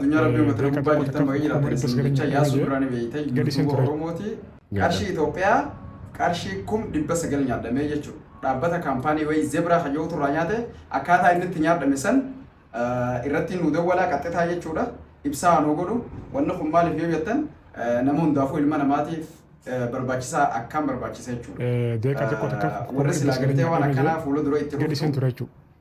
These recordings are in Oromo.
Addunyaa Rabbii uummata na gubbaa jirtan baga jiraatan isin jecha Yaasuu Biraanii beeyta yuutuuba Oromooti qarshii Itoophiyaa qarshii kum dhibba sagal nyaadhamee jechuudha. Dhaabbata kaampaanii wayii Zebraa kan jedhutu irraa nyaate akkaataa inni itti nyaadhame san irratti nu dawwalaa qaxxitaa jechuudha. Ibsaa nuu godhu wanni kun maaliif yoo jettan nama hundaafuu ilma namaatiif barbaachisaa akkaan barbaachisa jechuudha. Warri silaa gartee waan akkanaa fuula dura itti dhuftu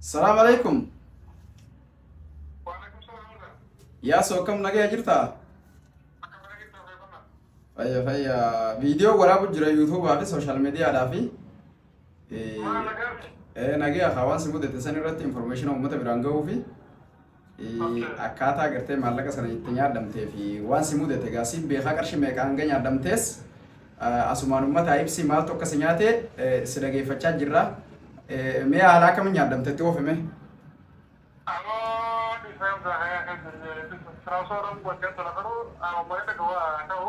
Salaam alaikum. Yaasoo akkam nagaya jirta? Fayya fayya. Viidiyoo waraabu jira yuutuubaa fi sooshaal miidiyaadhaa fi nagaya haa waan si mudate san irratti informeeshina uummata biraan ga'uu fi Akkaataa gartee maallaqa sana itti nyaadhamtee fi waan si mudate egaa siin beekaa qarshi meeqa hanga nyaadhamtees asumaan uummataa ibsi maaltu akka si nyaate si dhageeffachaa jirra. Mee haala akkamiin nyaadhamte itti oofime? Amoo dhiisee hunda haya kee jiree dhiisee osoo roon godhee tola garuu amoo malee dhagawaa ta'u.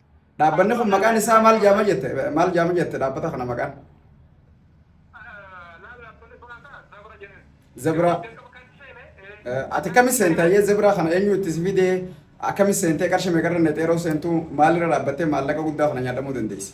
Dhaabbanni kun maqaan isaa maal jaama jette maal jaama jette dhaabbata kana maqaan? Zebra. Ati kami seenta yee zebra kana eenyu itti si fidee akkami seentee qarshii meeqarra netee yeroo seentu maalirra dhaabbattee maallaqa guddaa kana nyaadhamuu dandeessa?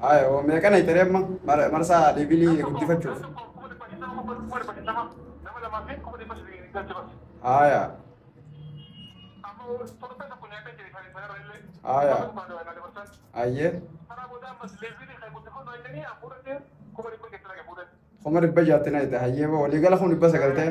Haya, oo meeqa na itaree amma Mar- marsaa deebiinii guddifachuuf. Haya, haya, ayyee, kuma dhibba jaatti na ita hayyee boo waliigala kun dhibba sagal ta'e.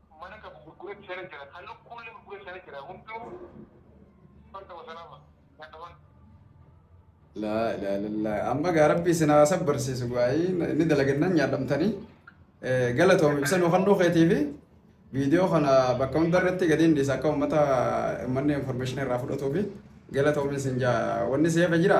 mana qabu gurgureti sena jira ka lukkulle gurgure sena jira hundu farda wasalama nyataman. Laa ilaa ilallaa amma gaa rabbii isin haa sabbarsiisu gaa'ii inni dalagennan nyaadhamtanii galatoomi ibsa nu kennuu keetiifi viidiyoo kana bakka hunda irratti gadi hin dhiisa akka uummata uummanni information irraa fudhatuufi galatoomi isin jaa wanni seefa jira.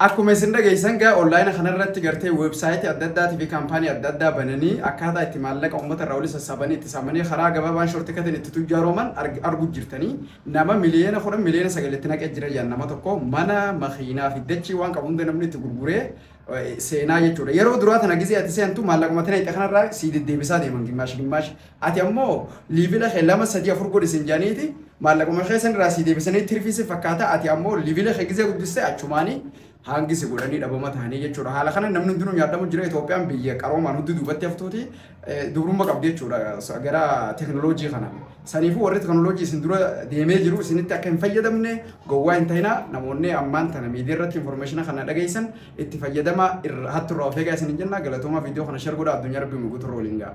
Akkuma isin dhageessan gaa onlaayina kanarratti gartee weebsaayitii adda addaatii fi kaampaanii adda addaa bananii akkaataa itti maallaqa uummata irraa walitti sassaabanii itti saamanii karaa gabaabaan shortikatiin itti tujjaaroman arguu jirtanii nama miliyoona kudhan miliyoona sagal itti naqee jira jedhan nama tokko mana makiinaa fi dachii waan qabu hunda namni itti gurguree seenaa jechuudha. Yeroo duraa tana gizee ati seentu maallaquma tana itti kanarraa sii deddeebisaa deeman gimmaashi gimmaashi Ati ammoo liivila kee lama sadii afur godhi sin janiiti maallaquma kee san irraa sii deebisanii tirfii si fakkaata ati ammoo liivila kee gizee guddistee achumaanii hangi si godhanii dhabama tahanii jechuudha. Haala kana namni hundinuu nyaadhamu jira Itoophiyaan biyya qaroomaan hudduu duubatti haftuuti dubrumma qabdi jechuudha gara teknooloojii kana. Saniifuu warri teknooloojii isin dura deemee jiru isinitti akka hin fayyadamne gowwaa hin ta'ina namoonni ammaan tana miidiyaa irratti informeeshina kana dhageessan itti fayyadama hattu irraa of eegaa isin hin jenna galatoomaa viidiyoo kana share godhaa addunyaa rabbii mul'atu irra waliin ga'a.